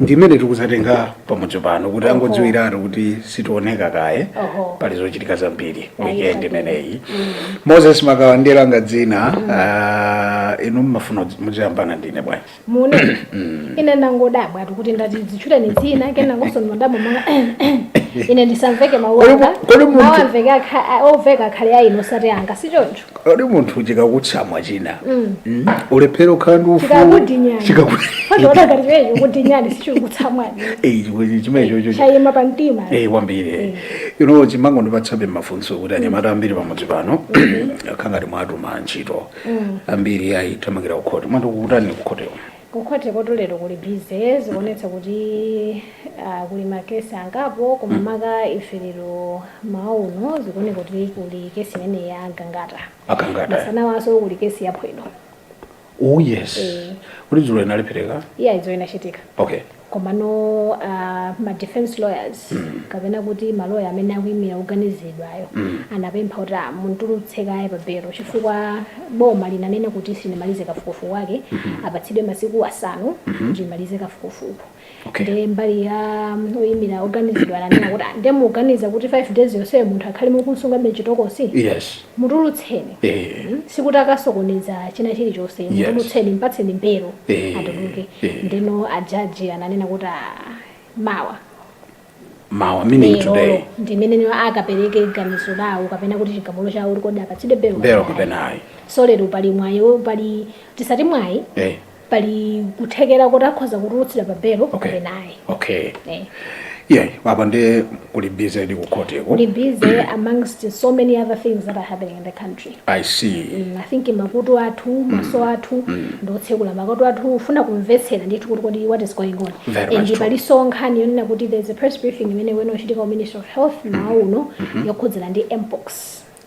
ndi imene tikuzatenga pamudzi pano kuti angodziwiratu kuti sitioneka kaye Oho. pali zochitika zambiri weekend imeneyi moses makawa ndi langa dzina ah, inu mmafuna kudzi- muziyambana ndine bwanji mune ine ndangodabwa ati kuti nditadzitchula dzina kena ngosoni madabo mwa ine ndisamveke Kodi mu- mawanga kodi munthu- mawamveke akha- a- oveka akhale a inu osati anga si choncho kodi munthu chikakutsamwa china mm, ulephere kukhala ndi ufulu chikakudinyani Chikaku- fadza wa Gangata chimenecho kudinyani sichikutsamwani Eh, chimwe- chimenechocho chayima pa mtima Eh, kwambiri ino chimangondipatsabe mafunso kuti anyamata ambiri pamudzi pano akhala ngati mwatama ntchito ambiri ayithamangira kukhoti mwati kukutani kukhoteko Ku khoti kotu lero kuli busy zikuonetsa kuti aah kuli ma case angapo koma maka ife lero mmawa uno zikuoneka kuti kuli case imeneyi ya Gangata. A Gangata. Masanawanso kuli case ya Phwedo. Ooh yes. Eeh. Kuti dzulo inalephereka? Iyayi dzulo inachitika. Okay. Komano a ma defence lawyers kapena kuti ma lawyer amene akuimira woganiziridwayo anapempha kuti amutulutse kaye pa belo chifukwa boma linanena kuti silinamalize kafukufuku wake, apatsidwe masiku asanu kuti limalize kafukufuku. Okay. Ndiye mbali ya oimira oganiziridwa ananena kuti "Ah, ndiye mukuganiza kuti 5 days yonseyo munthu akhale mukumsungabe m'chitokosi? Yes. mutulutseni Ehe. Mm, sikuti akasokoneza china chilichonse Yes. mutulutseni mpatseni belo Ehe. atuluke Ehe. ndeno a jaji ananena kuti "Ah, mawa mawa meaning lero today ndimene iwo akapereke ganizo lawo kapena kuti chigamulo chawo kuti kodi apatsidwe belo belo kapena ayi. kapena ayi so lero pali mwayi wo- pali tisati mwayi Eh. pali kuthekera kuti akhoza kutulutsidwa pa belo okay. kapena ayi okay. eh. yeah, apa nde kuli busy nde kukhoteko kuli busy amongst so many other things that are happening in the country i see mm, i think makutu athu mm. maso mm. athu mm. ngotsekula makutu athu kufuna kumvetsera ndithu kuti kodi what is going on Very and palinso nkhani yonena kuti there is a press briefing imene ikuyenera kuchitika wa minister of health mm. mmawa uno mm -hmm. yokhudzana ndi mpox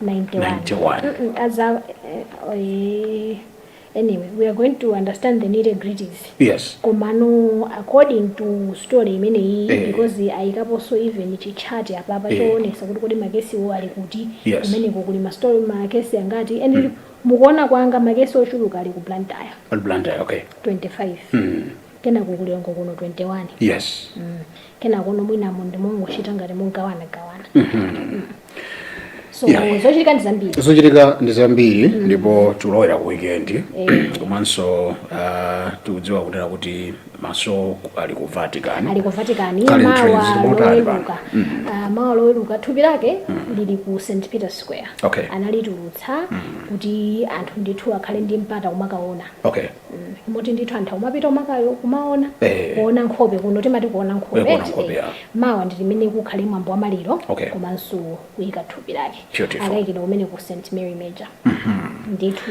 91. Mm-mm, as a, uh, eh, anyway, we are going to understand the nitty gritties. yes komano according to story imeneyi Eh. because ayikaponso even chitchati apapa Eh. choonetsa kuti kodi makesiwo ali kuti Yes. kumeneko kuli mastori makesi angati and mu kuona kwanga makesi ochuluka ali ku blantyre Blantyre, okay 25 mm. kenako ku Lilongwe kuno 21 yes kenakono mwinamo ndi mongochita ngati mogawana gawana so Yeah. zochitika ndi zambiri zochitika ndi zambiri ndipo tulowera ku weekend komanso uh, tikudziwa kunena kuti maso ali ku vatican ali ku vatican Kali mawa mtrenzi, timotani loweruka Ah, mawa loweruka thupi lake lili ku st peter square Okay. analitulutsa kuti anthu ndithu akhale ndi mpata womakaona okay moti ndithu anthu akumapita umakayo kumaona Eh. kuona nkhope kuno timati kuona nkhope Eh, kuona eti, nkhope, eh. ya. mawa ndi limene kukhale mwambo wa maliro Okay. komanso kuyika thupi lake lake Beautiful. akayikidwa kumeneko ku st mary major ndithu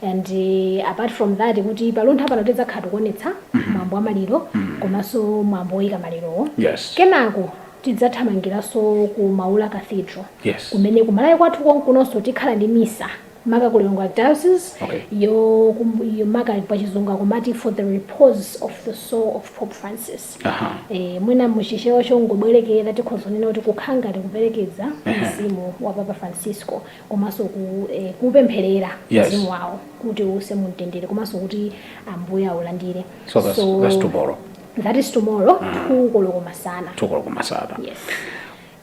and eh, apart from that kuti pa luntha pano tidzakhala tikuonetsa mwambo wa maliro komanso mwambo woyika malirowo yes kenako tidzathamangiranso ku maula cathedral yes kumene kumalawi kwathu konkunonso tikhala ndi misa maka ku Lilongwe Archdiocese Okay. yo kum- yomaka pa chizungu akumati for the repose of the soul of Pope Francis Aha. eh, mwina muchichewa chongobwerekera tikhoza kunena kuti kukhala ngati kuperekeza mzimu wa papa francisco komanso ku, eh, kupempherera Yes. mzimu wawo kuti uuse mu mtendere komanso kuti ambuye aulandire So that's- that's tomorrow. that is tomorrow two koloko masana Two o'clock masana. yes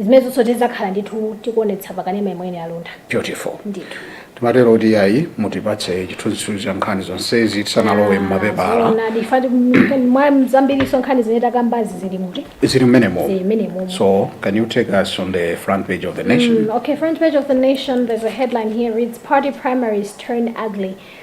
zimenezonso tizakhala ndithu tikuonetsa pa kanema imeneyi ya luntha beautiful ndithu timatero kuti ayi mutipatse chithunzithunzi cha nkhani zonsezi tisanalowe mmapepala Zoona, ndipotu m- mwa zambirinso nkhani zimene takambazi zi zili muti zili mmenemo Zili mmenemo. so can you take us on the front page of the nation Mm, okay, front page of the nation, there's a headline here reads Party primaries turn ugly.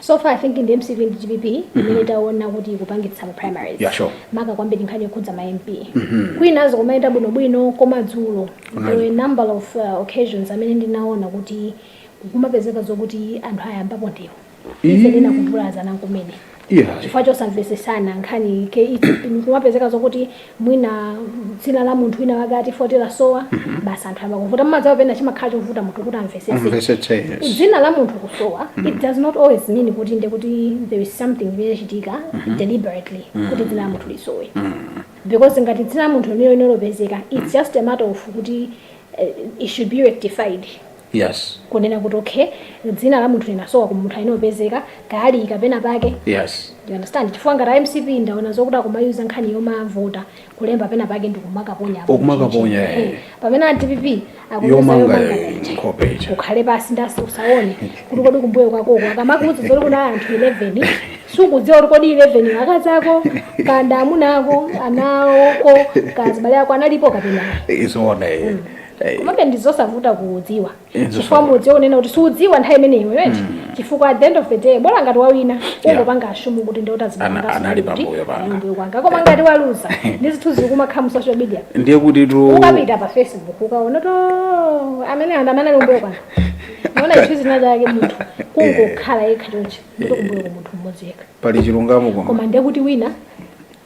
so far i think ndi mcp ndi dpp imene taona kuti ikupangitsa ma primaries Yeah, sure. maka kwambiri nkhani yokhudza ma mp kwinazo kumayenda bwinobwino koma dzulo Kunali. there were a number of uh, occasions amene ndinaona kuti kumapezeka zokuti anthu ayambapo ndewu ife mwina kuvulazana kumene yeah. chifukwa chosamvesesana nkhani ke- kumapezeka zokuti mwina dzina la munthu wina wake ati voti lasowa basi anthu ayamba kuvuta mumadziwa pena chimakhala chovuta munthu kuti amvesese amvesetse yes dzina la munthu kusowa it does not always mean kuti nde kuti there is something imene yachitika deliberately kuti dzina la munthu lisowe because ngati dzina la munthu lija silinapezeke it's just a matter of kuti eh, it should be rectified Yes. kunena kuti okay dzina la munthu linasowa koma munthuyo amene opezeka kaya ali kapena pake Yes. you understand chifukwa ngati a mcp ndaona zokuti akumayuza nkhani yomavota kulemba pena pake ndikumakaponya apo Okumakaponya, mchinchi. eh. Eh, pamene a dpp akuyuza Yomanga, yomanga eh, ija. nkhope ija. ukhale pansi ndipo usaone kuti kodi kumbuyo kwakoko akamakuuza zoti kuna anthu 11 sukudziwa kuti kodi 11 akazi ako kaya amuna ako ana kaya azibale ako analipo kapena It's one. eh. komabe ndizosavuta kudziwa chifukwa mwina kunena kuti sudziwa nthawi imeneyo right mm. chifukwa at the end of the day bola ngati wawina ungopanga yeah. assume kuti ndiye azibale anga anali pambuyo panga koma ngati waluza ndi zinthu zikumakhala mu social media ndiye kuti tu ukapita pa facebook ukaona kuti oh, amene anthu amene ali kumbuyo kwanga naona chithunzi china chake munthu kungokhala yekha choncho ndi kumbuyo munthu mmodzi yekha pali chilungamo koma ndiye kuti wina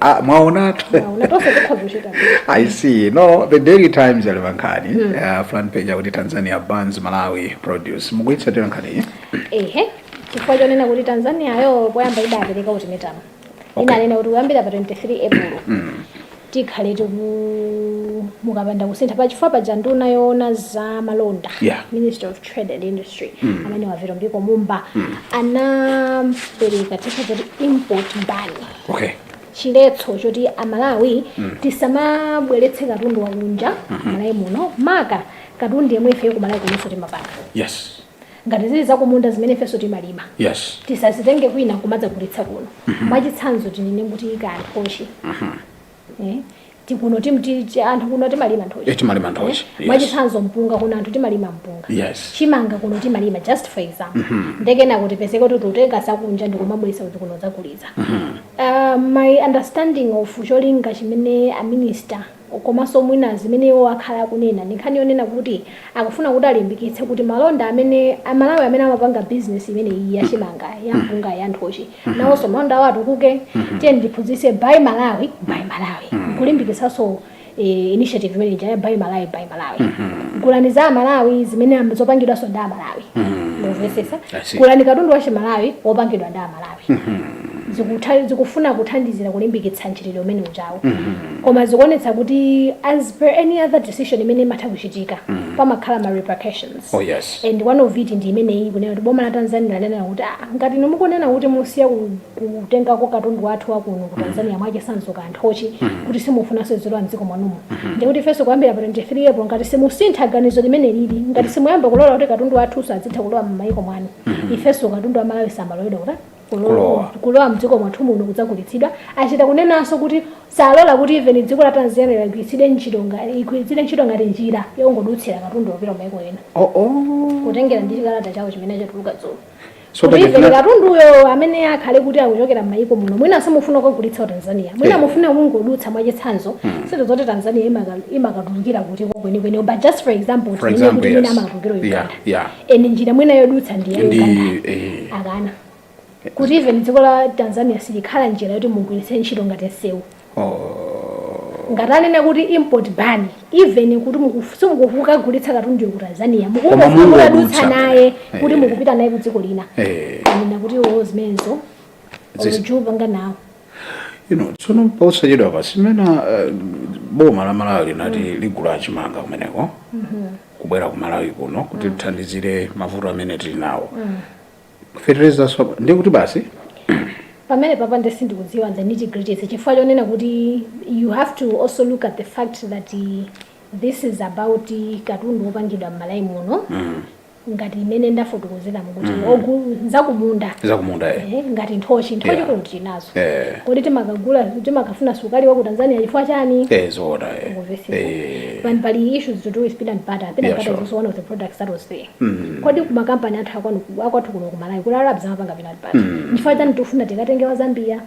ah, mwaonatu Mwaona, tonse tikhoza kuchita bwino. I see. No, the Daily Times ili pankhani mm. uh, front page akuti Tanzania bans Malawi produce. Mukuitsatira nkhani iyi? ehe chifukwa chonena kuti tanzaniayo poyamba idapereka ultimatum Okay. inanena kuti kuyambira pa 23 april tikhale tiku mukapanda kusintha pa chifukwa paja nduna yoona za malonda Yeah. ministry of trade and industry amene a Vitumbiko Mumba anapereka chija zoti import ban okay chiletso choti amalawi mm. tisamabweretse katundu wakunja mm -hmm. Malawi muno maka katundu yemwe ifeyo ku Malawi kunonso timapanga yes ngati zili zakumunda zimene ifenso timalima yes tisazitenge kwina kumadzagulitsa kuno mm -hmm. mwachitsanzo tinene kuti ka nthochi mm -hmm. Eh, tikuno tim- ti- ti- anthu kuno timalima nthochi Eh, timalima nthochi, Eh, yes. mwachitsanzo mpunga kuno anthu timalima mpunga Yes. chimanga kuno timalima just for example ndiye kunena kuti tisiye kuti tikutenga zakunja ndikumabweretsa kuti kuno kudzagulitsa uh, my understanding of cholinga chimene a minister komanso mwina zimene iwo akhala akunena ndi nkhani yonena kuti akufuna kuti alimbikitse kuti malonda amene amalawi amene amapanga business imene iyi yachimanga yampunga yanthochi mhm. nawonso malonda awo atukuke mhm. tiyeni tiphunzitse buy malawi buy malawi mhm. kulimbikitsanso eh, initiative imene ija ya buy malawi buy malawi gulani za malawi zimene zopangidwanso ndi amalawi mukumvetsetsa gulani katundu wa chimalawi wopangidwa ndi amalawi zikufuna kuthandizira kulimbikitsa mchitidwe umene ujawo mm-hmm. koma zikuonetsa kuti as per any other decision imene imatha kuchitika mm-hmm. pamakhala ma repercussions Oh yes. And one of it ndi imeneyi yokunena kuti boma la Tanzania lidanena kuti aah ngati inu mukunena kuti musiya ku kutengako katundu wathu wa kuno ku Tanzania mwachitsanzo ka nthochi kuti simufunanso izilowa mdziko mwanumo. Ndiye kuti ifenso kuyambira pa 23 April ngati simusintha ganizo limenelili ngati simuyamba kulola kuti katundu wathunso azitha kulowa m'mayiko mwanu ifenso katundu wa Malawi sazaloledwa kutani Kulowa. kulowa mdziko mwathu muno kudzagulitsidwa achita kunenanso kuti salola kuti even dziko la tanzania ligwiritsidwe ntchito nga- igwiritsidwe ntchito ngati njira yongodutsira katundu wopita maiko ena oh, oh. kutengera ndi chikalata chawo chimene chatuluka dzulo So kuti pali even zina- katundu amene akhale kuti akuchokera m'mayiko muno mwina simufuna kukagulitsa ku tanzania mwina Eh. mufuna kungodutsa mwachitsanzo sindidziwa kuti tanzania imaka- imakatulukira kuti kwenikweni but just for example For tinene example, kuti mwina yes. amakatulukira Yeah, uganda yeah. eh njira mwina yodutsa ndi ya ndi Uganda eh, akana kuti even dziko la tanzania silikhala njira yoti mugwiritse ntchito ngati nsewu oh, ngati anena kuti import ban even kuti mukufu- simukukagulitsa katundu ku tanzania Koma mukukadutsa mungodutsa. naye kuti Eh. mukupita naye ku dziko lina Eh. anena kuti iwo zimenezo Zis- sakupanga nawo you know tsono posachedwa pa pansimene uh, boma la malawi linati mm. ligulula chimanga kumeneko mm -hmm. kubwera ku malawi kuno kuti lithandizire mm. mavuto amene tili nawo mm. fetereza kusowa ndiye kuti basi pamenepapa nde sindikudziwa the nitty gritty chifukwa chonena kuti you have to also look at the fact that uh, this is about katundu wopangidwa mmalawi muno mm. ngati imene ndafotokozeramo kuti mm. ogu zakumunda zakumunda eh. eh, ngati nthochi nthochi yeah. kuno tinazo eh. kodi timakagula timakafuna soseji wa ku Tanzania chifukwa chani eh zoda eh eh pali pali issues to do with peanut butter peanut yeah, butter sure. is also one of the products that was there mm. kodi kuma company athu akwanu akwathu kuno ku Malawi kuli Rabs amapanga peanut butter mm. chifukwa chani tufuna tikatenge wa Zambia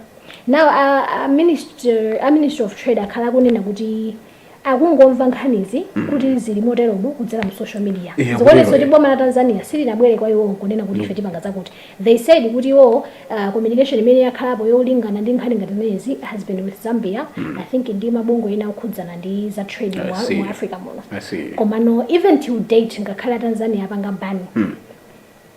now a uh, uh, minister a uh, minister of trade akhala akunena kuti akungomva nkhanizi kuti zili moteromo kudzera mu social media. Eya, Zikuonetsa choncho kuti eh. boma la Tanzania silinabwere kwa iwowo kunena kuti ife tipanga zakuti. They said kuti iwowo uh, communication imene yakhalapo yolingana ndi nkhani ngati zimenezi has been with Zambia I think ndi mabungwe ena okhudzana ndi za trade I mu, see. mu Africa muno. I see. Komano even till date ngakhale a Tanzania apanga ban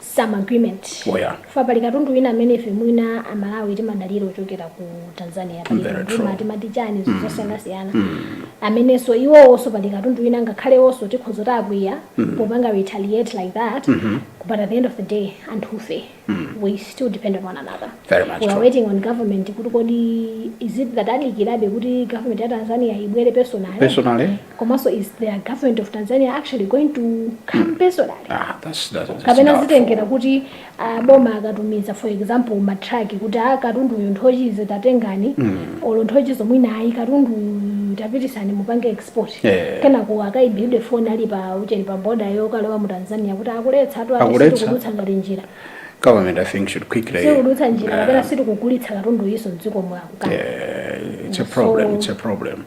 some agreement Oh, yeah. chifukwa pali katundu wina amene ife mwina amalawi timadalira wochokera ku tanzania pali Very katundu true. wina timati chani zinthu zosiyanasiyana amenenso iwowonso pali katundu wina ngakhale iwonso tikhoza kuti akwiya popanga retaliate like that but at the end of the day anthufe we still depend on one another Very much we are true. waiting on government kuti kodi is it that adikirabe kuti government ya tanzania ibwere personal Personally, komanso is the government of tanzania actually going to come personally Ah, that's, that's, it's kapena not zitengera kuti aboma akatumiza for example matraki kuti a katundu uyu nthochizi tatengani olo nthochizo mwina ayi katundu uyu tapitisani mupange export Eh. kenako akaimbilidwe foni ali pa mchenga pa boda yokalowa mu tanzania kuti akuletsatu Akuletsa. apesi tikudutsa ngati njira government i think should quickly sikudutsa njira kapena sitikugulitsa katunduyunso mdziko mwanu yeah, it's a problem it's a problem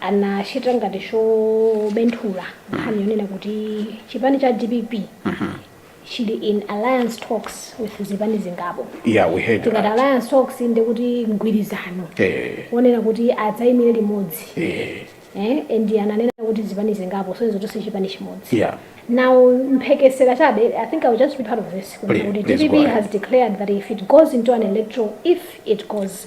anachita ngati chobenthula nkhani yonena kuti chipani cha dpp chili in alliance talks with zipani zingapo yeah, we heard tikati that. alliance talks ndi kuti mgwirizano Eh, wonena kuti adzayimire limodzi eh, eh, and ananena kuti zipani zingapo sozo zonse chipani chimodzi yeah. Now, Mphekesera chabe, I think I'll just be part of this. Please, Kuti please go DPP ahead. has declared that if it goes into an electoral, if it goes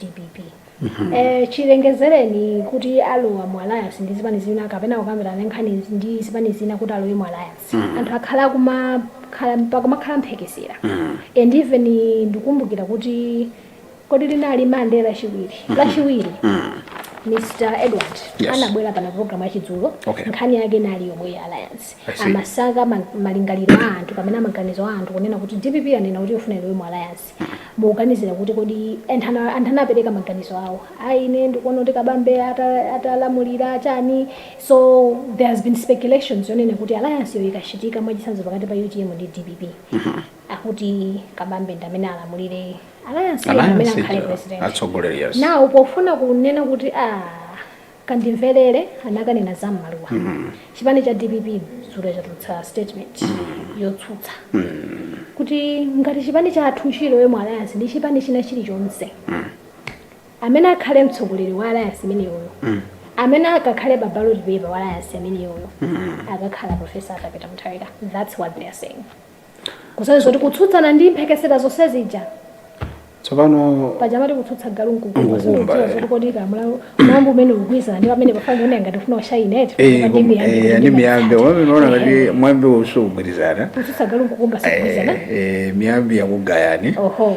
dpp eh, chilengezereni kuti alowa mu alliance ndi zipani zina kapena kukambirana nkhani ndi zipani zina kuti alowe mu alliance anthu akhala kumakhala pakumakhala mphekesera and even ndikumbukira kuti kodi linali Monday lachiwiri lachiwiri mr edward Yes. anabwera pa programu yachidzulo Okay. nkhani yake inali yomwe ya alliance I see. amafuna ma- malingaliro a anthu kapena maganizo a anthu kunena kuti dpp anena kuti ikufuna ilowe mu alliance mukuganizira kuti kodi anthu ana- anthu anapereka maganizo awo ayi ine ndikuona kuti Kabambe ata- atalamulira chani so there has been speculations yonena kuti alliance yo ikachitika mwachisanzo pakati pa utm ndi dpp akuti Kabambe ndi amene alamulire alliance yo ndi amene alliance akhale ija, president atsogoleri yes nawo pofuna kunena kuti ah Kandimvelele anakanena za mmaluwa. Chipani cha dpp dzulo chatulutsa statement yotsutsa kuti ngati chipani chathu chilowe mu alliance ndi chipani china chilichonse, amene akhale mtsogoleri wa alliance imeneyoyo, amene akakhale pa ballot paper wa alliance imeneyoyo akakhala Prof. Arthur Peter Mutharika. That's what they are saying. kusonyeza kuti kutsutsana ndi mphekesera zonse zija tsopano paja amati kutsutsa galu nkukumba, nkukumba siudziwa eh. zoti kodi kamwambi mwambi umene ukugwirizana ndi pamene pafana ndione ngati ufuna ushayine eti eh, Pamene kum- ndimuyambe eh, kuti ndi ndimuyambe. miyambi wamene unaona ngati Eh, mwambi usukugwirizana kutsutsa galu nkukumba sikugwirizana Eh, eh, miyambi yakugayani oho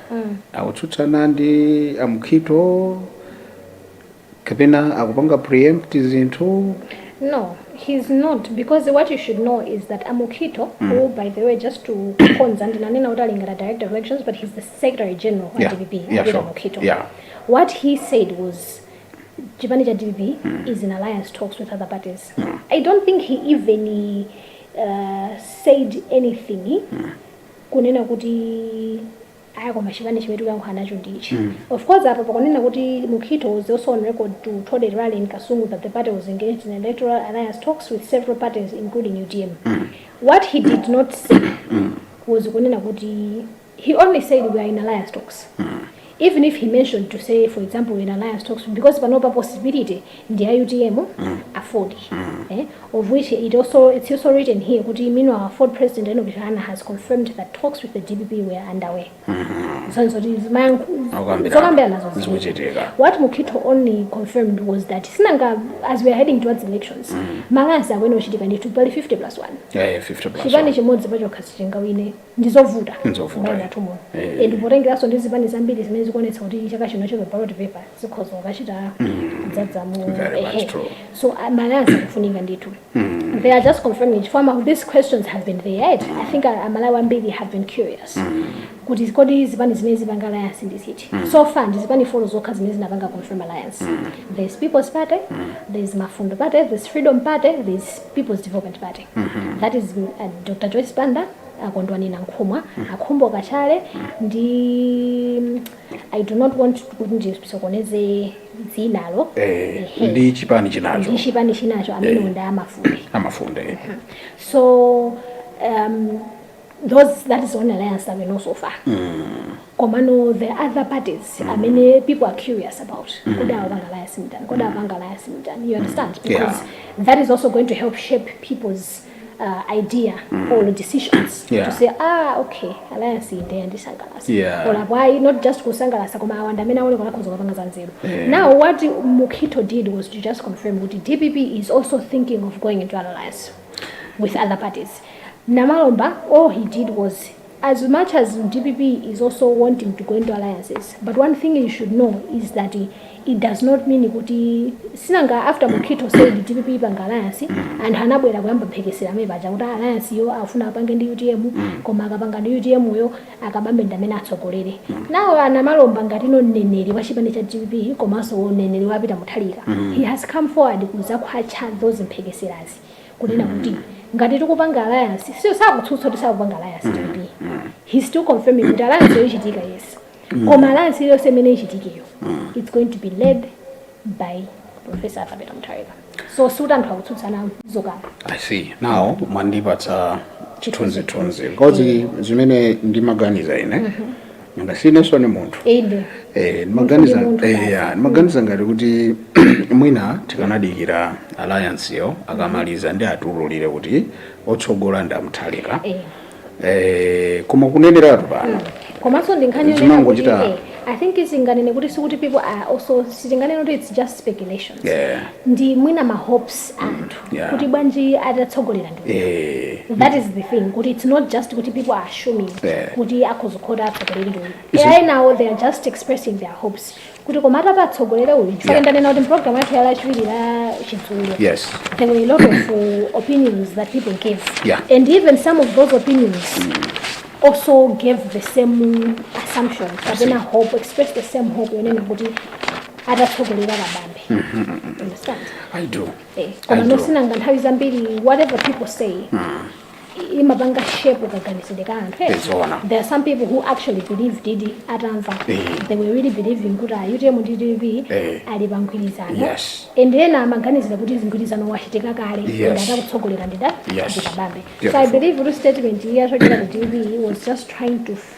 akutsutsana ndi amkhito kapena akupanga preempt zinthu No, he's not because what you should know is that Amukito, who by the way, just to konza ndinanena kuti ali ngati director of elections, but he's the secretary general Yeah, at DPP. yeah, Abida sure. Amukito. Yeah. What he said was chipani cha DPP is in alliance talks with other parties. I don't think he even uh, said anything kunena kuti aya koma chipani chimene tikuyankhula nacho ndichi mm. of course apa pakunena kuti mukhito was also on record to told a rally in kasungu that the party was engaged in electoral alliance talks with several parties including utm mm. what he did not say mm. was kunena kuti he only said we are in alliance talks mm. even if he mentioned to say for example when alliance talks to him because panopa possibility ndi ya utm afford eh, of which it also it's also written here kuti meanwhile afford president Enoch Chihana has confirmed that talks with the dpp were underway zonena kuti Akukambirana. zokambirana zonse Zikuchitika. what Mukhito only confirmed was that sinanga as we are heading towards elections ma alliance akuyenera kuchitika ndithu pali 50 plus 1 Yeah, yeah, 50 plus chipani one. chimodzi pachokha sichingawine ndizovuta Ndizovuta, mbali eh. yathu muno Eh. Eh, ndi potengeranso ndi zipani zambiri zimene zikuonetsa kuti chaka chino chero ballot paper zikhoza kukachita kudzadza mu Very much ehe. true. so uh, ma alliance akufunika ndithu they are just confirming chifukwa ma- these questions have been there right? i think uh, amalawi ambiri have been curious kuti kodi zipani zimene zipanga alliance ndi ziti so far ndi zipani folo zokha zimene zinapanga confirm alliance there's people's party there's Mafunde party there's freedom party there's people's development party that is mm, uh, dr joyce banda a Kondwani Nankhumwa a Khumbo Kachali ndi mm, i do not want kuti ndisokoneze dzinalo eh, Ehe. ndi chipani chinacho ndi chipani chinacho amene unda a Mafunde a Mafunde so um, those that is only alliance that we know so far koma no the other parties amene people are curious about kodi awapanga alliance mtani kodi awapanga alliance mtani you understand because Yeah. that is also going to help shape people's uh, idea or decisions Yeah. to say ah okay alliance inde yandisangalasa Yeah. or why not just kusangalasa koma awanda amene aone kona khonzo kapanga za nzeru Yeah. now what mukhito did was to just confirm kuti dpp is also thinking of going into an alliance with other parties. Namalomba, all he did was, as much as dpp is also wanting to go into alliances, but one thing you should know is that it, it does not mean kuti sinanga after Mukhito said dpp ipanga alliance anthu anabwera kuyamba mphekesera mpaja kuti alliance yo afuna apange ndi utm koma akapanga ndi utm yo Akabambe ndi amene atsogolere nawo a Namalomba ngati mneneri wa chipani cha dpp komanso mneneri wa Peter Mutharika. He has come forward kudzakhwatcha those mphekeserazi kunena kuti ngati tikupanga alliance so sakutsutsa kuti sakupanga alliance dpp. He is still confirming kuti alliance yo ichitika yes. Koma alliance iliyonse imene ichitikeyo it's going to be led by professor kapena mutharika so si kuti anthu akutsutsana zokamba i see now mwandipatsa chithunzithunzi because zimene ndimaganiza ine nanga sinenso ni munthu inde Eh, ndimaganiza Munthu ndi munthu eh, basi. ya, ndimaganiza ngati kuti mwina tikanadikira alliance yo akamaliza ndi atiululire kuti otsogola ndi a Mutharika Eh. Eh, koma kuneneratu pano komanso ndi nkhani yonena kuti Zimangochita- eh, i think izinganene kuti sikuti people are also sitinganene kuti it's just speculation Yeah. ndi mwina ma hopes anthu yeah. kuti bwanji atatsogolera ndi Eh, that is the thing kuti it's not just kuti people are assuming Yeah. kuti akhoza kukhala atsogoleri ndi It's- enawo they are just expressing their hopes kuti koma atati atsogolere uyu chifukwa Yeah. ndanena kuti mpulogalamu yathu ya lachiwiri la chizungu yes there were a lot of uh, opinions that people gave Yeah. and even some of those opinions also gave the same assumptions kapena hope expressed the same hope yonena kuti atatsogolera kabambe understand i do Eh, koma I do. no si nanga nthawi zambiri whatever people say i- imapanga shape kaganizidwe ka anthu eh? Zoona. there are some people who actually believe ndithu atamva Eh. they were really believing kuti a utm ndi dpp Eh. ali pa mgwirizano Yes. and ena amaganizira kuti mgwirizano wachitika kale Yes. and atatsogolera ndi Da- Yes. ndi Kabambe so i Beautiful. believe kuti statement iyi yachokera ku dpp was just trying to f-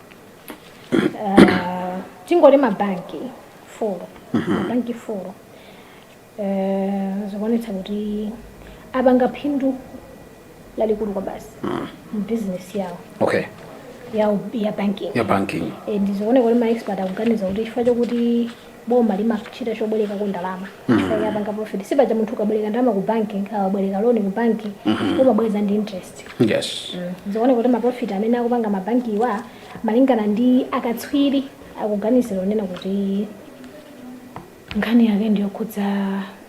Ah, tingoti mabanki four mabanki four Eh, zikuonetsa kuti apanga phindu lalikulu kwabasi m'bizinesi yawo okay ya, ya banking ya banking Eh, ndizikuoneka kuti maexpert akuganiza kuti chifukwa chokuti boma limachita chobwereka ndalama mm. apanga profit si paja munthu ukabwereka ndalama ku banki ukabwereka loni ku banki mm -hmm. umabweza ndi interest yes. mm. zikuoneka kuti maprofit amene akupanga mabanki iwa malingana ndi akatswiri akuganizira onena kuti nkhani yake ndiyokhudza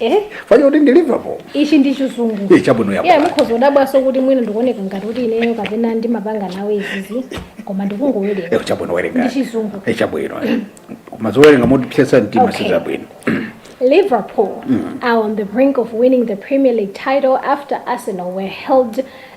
Eh? fanya kuti ndi liverpool ichi ndi chizungu Eh, chabwino yapo. yeah, mukhoza kudabwanso kuti mwina ndikuoneka ngati kuti ineyo kapena ndimapanga nawo izizi koma ndikungowerenga Eh, chabwino werenga ndi chizungu Eh, chabwino eh. koma zowerenga motipsetsa mtima Okay. sizabwino Liverpool are on the brink of winning the Premier League title after Arsenal were held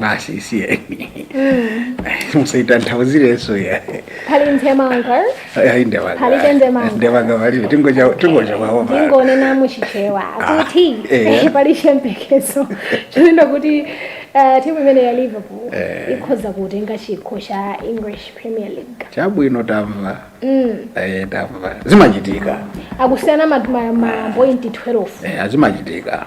basi isiyeni musaitanthauzirenso ayi pali ndemanga ayi ndemanga Palibe ndemanga. ndemanga palibe tingocha tingocha kwawo pano ndingonena muchichewa kuti eh. pali chiyembekezo chonena kuti eh, timu imene ya liverpool ikhoza kutenga chikho cha english premier league chabwino tamva Mm. Eh, tamva zimachitika akusiyana ma- ma- mapointi 12 Eh, zimachitika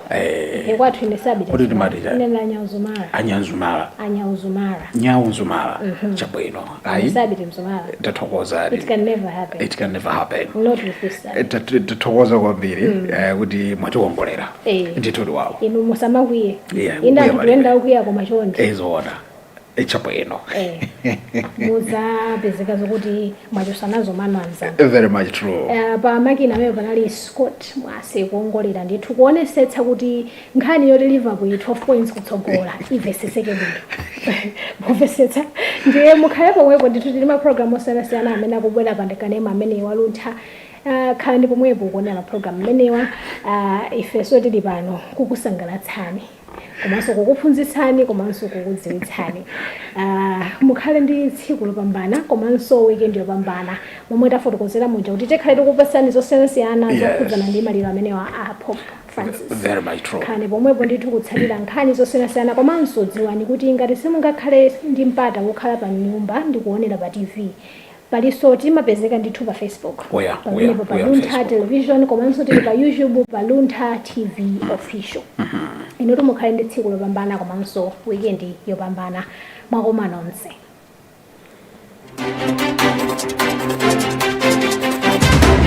Eh, Ife kwathu ine sabita. Kuti timati chani? Ine Anyauzumara. anyanzumala Anyauzumara. nyaunzumala chabwino ayi Sabita mzumara. It tathokozani can never happen. it can never happen Not with this side. Eh, tat- tathokoza kwambiri eh, kuti mwatiwongolera Eh. ndithudi wawo Inu musamakwiye. Yeah, Inda kukwiya anthu palibe. kuyenda ukwiya koma chonde. ezoona Eh, chabwino eh, muzapezeka zokuti mwachosa nazo mano anzanu Eh, very much true Eh, pa makina amene panali scott mwase kuongolera ndithu kuonesetsa kuti nkhani yoti liverpool ili 12 points kutsogola iveseseke bwino muvesetse ndiye mukhale pomwepo ndithu tili mapulogalamu osiyanasiyana amene akubwera pa kanema ameneyu wa Luntha Ah, khalani pomwepo kuonera mapulogalamu amenewa Ah, ifenso tili pano kukusangalatsani komanso kukuphunzitsani komanso kukudziwitsani uh, mukhale ndi tsiku lopambana komanso weekend yopambana momwe tafotokozera muja kuti tikhale tikupatsani zosiyanasiyana Yes. zokhudzana ndi maliro amenewa a pope francis Very much true. khalani pomwepo ndithu kutsatira nkhani zosiyanasiyana komanso dziwani kuti ngati simungakhale ndi mpata wokhala pa nyumba ndi kuonera pa tv Paliponse timapezeka ndithu pa Facebook We are- we are- pamenepo pa we are Luntha Facebook. Television komanso tili pa YouTube pa Luntha TV Official. Inutu mukhale ndi tsiku lopambana komanso weekend yopambana mwakoma nonse.